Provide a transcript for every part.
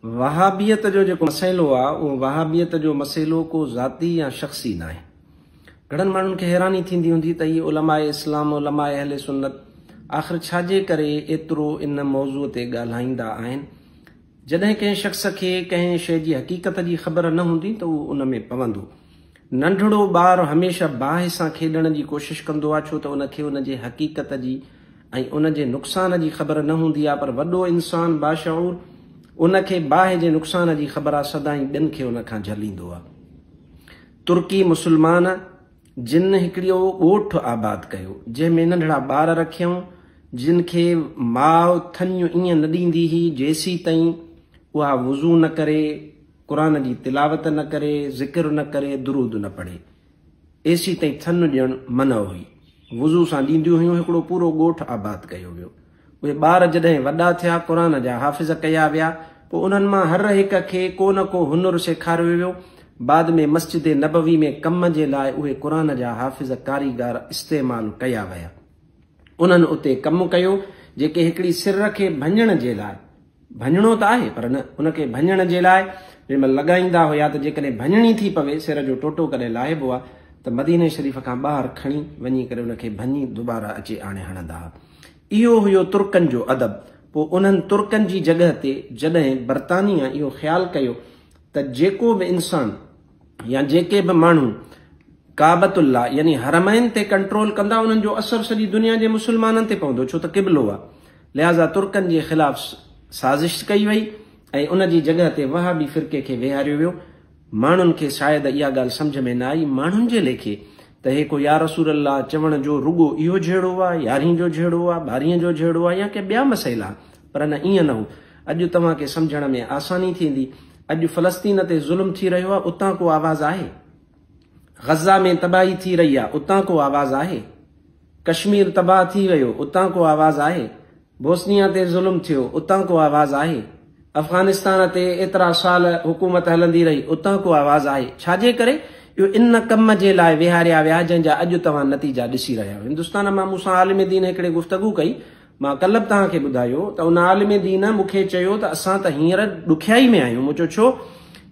وهابيت جو جيڪو مسئلو آ اهو وهابيت جو مسئلو ڪو ذاتي يا شخصي ناهي. گهڻن ماڻهن کي حيراني ٿيندي هوندي ته هي علماء اسلام، علماء اهل سنت آخر ڇا جي ڪري ايترو ان موضوع تي ڳالهائيندا آهن. جڏهن ڪنهن شخص کي ڪنهن شيء جي حقيقت جي خبر نه هوندي ته اهو ان ۾ پوندو. ننڍڙو ٻار هميشه باهه سان کيڏڻ جي ڪوشش ڪندو آهي ڇو ته ان کي ان جي حقيقت جي ۽ ان جي نقصان جي خبر نه هوندي آهي پر وڏو انسان باشعور ان کي باهه جي نقصان جي خبر آهي سدائين ٻين کي ان کان جهليندو آهي. ترڪي مسلمان جن هڪڙيو ڳوٺ آباد ڪيو جنهن ۾ ننڍڙا ٻار رکيائون جن کي ماء ٿڃ ائين نه ڏيندي هئي جيسيتائين اها وضو نه ڪري، قرآن جي تلاوت نه ڪري، ذڪر نه ڪري، درود نه پڙهي. ايسي تائين ٿڃ ڏيڻ منع هئي. وضو سان ڏينديون هيون، هڪڙو پورو ڳوٺ آباد ڪيو ويو. اهي ٻار جڏهن وڏا ٿيا، قرآن جا حافظ ڪيا ويا، پوء انهن مان هر هڪ کي ڪو نه ڪو هنر سيکاريو ويو. بعد ۾ مسجد نبوي ۾ ڪم جي لاء اهي قرآن جا حافظ ڪاريگار استعمال ڪيا ويا. انهن اتي ڪم ڪيو، جيڪي هڪڙي سر کي ڀڃڻ جي لاء. ڀڃڻو ته آهي پر نه، ان کي ڀڃڻ جي لاء جنهن مهل لڳائيندا هيا ته جيڪڏهن ڀڃڻي ٿي پوي، سر جو ٽوٽو ڪڏهن لاهبو ها ته مديني شريف کان ٻاهر کڻي وڃي ڪري ان کي ڀڃي دوباره اچي آڻي هڻندا ها. اهو هيو ترڪن جو ادب. پوء انهن ترڪن جي جڳهه تي جڏهن برطانيه اهو خيال ڪيو ته جيڪو به انسان يا جيڪي به ماڻهو ڪعبة الله يعني حرمين تي ڪنٽرول ڪندا انهن جو اثر سڄي دنيا جي مسلمانن تي پوندو ڇو ته قبلو آ لهذا ترڪن جي خلاف سازش ڪئي وئي ۽ ان جي جڳهه تي وهابي فرقي کي ويهاريو ويو ماڻهن کي شايد اها ڳالهه سمجهه ۾ نه آئي ماڻهن جي ليکي ته هيڪو يا رسول الله چوڻ جو رڳو اهو جهيڙو آ يارهين جو جهيڙو آ ٻارهين جو جهيڙو آ يا ڪي ٻيا مسئلا پر نه ائين نه هو اڄ توهان کي سمجهڻ ۾ آساني ٿيندي اڄ فلسطين تي ظلم ٿي رهيو آهي اتان ڪو آواز آهي؟ غزه ۾ تباهي ٿي رهي آهي اتان ڪو آواز آهي؟ ڪشمير تباهه ٿي ويو اتان ڪو آواز آهي؟ بوسنيا تي ظلم ٿيو اتان ڪو آواز آهي؟ افغانستان تي ايترا سال حڪومت هلندي رهي اتان ڪو آواز آهي؟ ڇاجي ڪري؟ اهو ان ڪم جي لاء ويهاريا ويا جنهن جا اڄ توهان نتيجا ڏسي رهيا آهيو. هندستان مان مون سان عالم دين هڪڙي گفتگو ڪئي مان ڪلهه به توهان کي ٻڌايو ته ان عالم دين مون کي چيو ته اسان ته هينئر ڏکيائي ۾ آهيون. مون چيو ڇو؟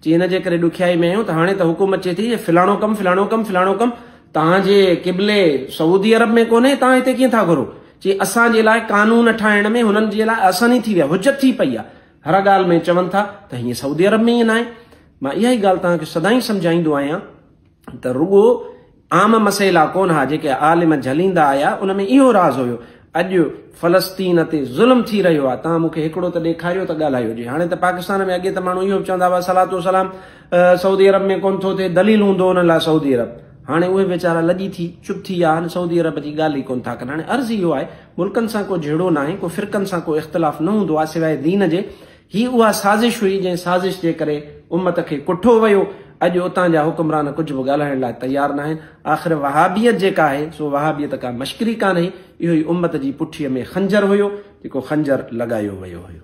چي ان جي ڪري ڏکيائي ۾ آهيون ته هاڻي ته حڪم اچي ٿي جو فلاڻو ڪم، فلاڻو ڪم، فلاڻو ڪم توهان جي قبلي سعودي عرب ۾ ڪونهي، توهان هتي ڪيئن ٿا گهرو؟ چي اسان جي لاء قانون ٺاهڻ ۾ هنن جي لاء آساني ٿي وئي آهي، حجت ٿي پئي آهي. هر ڳالهه ۾ چون ٿا ته هيئن سعودي عرب ۾ ائين ناهي. مان اها ئي ڳالهه توهان کي سدائين سمجهائيندو آهيان. ته رڳو عام مسئلا ڪونه ها جيڪي عالم جهليندا آيا ان ۾ اهو راز هيو. اڄ فلسطين تي ظلم ٿي رهيو آهي توهان مون کي هڪڙو ته ڏيکاريو ته ڳالهايو هجي هاڻي ته پاڪستان ۾ اڳي ته ماڻهو اهو به چوندا هئا صلات و سلام سعودي عرب ۾ ڪونه ٿو ٿئي دليل هوندو انهن لاء سعودي عرب هاڻي اهي ويچارا لڄي ٿي چپ ٿي ويا آهن سعودي عرب جي ڳالهه ئي ڪونه ٿا ڪن هاڻي عرض اهو آهي ملڪن سان ڪو جهيڙو ناهي ڪو فرقن سان ڪو اختلاف نه هوندو آهي سواء دين جي هي اها سازش هئي جنهن سازش جي ڪري امت کي ڪٺو ويو. اڄ اتان جا حڪمران ڪجهه به ڳالهائڻ لاء تيار ناهن. آخر وهابيت جيڪا آهي سو وهابيت ڪا مشڪري ڪانهي. اهو ئي امت جي پٺيء ۾ خنجر هيو جيڪو خنجر لڳايو ويو هيو.